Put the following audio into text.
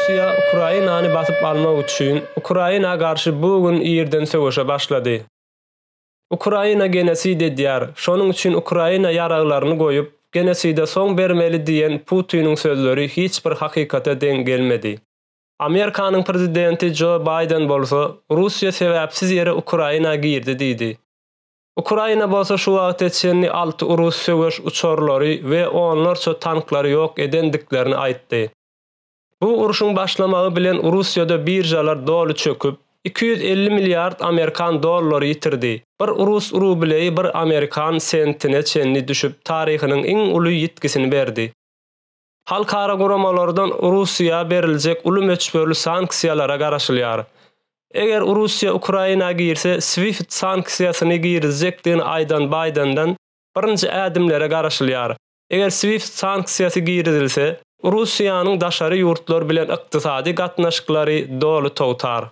Russiýa Ukrainany basyp almak üçin Ukraina garşy bu gün irden söweşe başlady. Ukraina genosid edýär, şonuň üçin Ukraina ýaraglaryny goýup, genoside soň bermeli diýen Putiniň sözleri hiç bir hakykata deň gelmedi. Amerikanyň prezidenti Jo Baýden bolsa, Russiýa sebäpsiz ýere Ukraina girdi diýdi. Ukraina bolsa şu wagta çenli alty urus söweş uçarlary we onlarça tanklary ýok edendiklerini aýtdy. Bu urşuň başlamagy bilen Russiýada biržalar doly çöküp, iki ýüz elli milliard amerikan dollary ýitirdi, bir rus rubleýi bir amerikan sentine çenli düşüp taryhynyň iň uly ýitgisini berdi. Halkara guramalardan Russiýa beriljek uly möçberli sanksiýalara garaşylýar. Eger Russiýa Ukraina girse SWIFT sanksiýasyny girizjekdigini aýdan Baýdenden birinji ädimlere garaşylýar. Eger SWIFT sanksiýasy girizilse, Russiýanyň daşary ýurtlar bilen ykdysady gatnaşyklary doly togtar.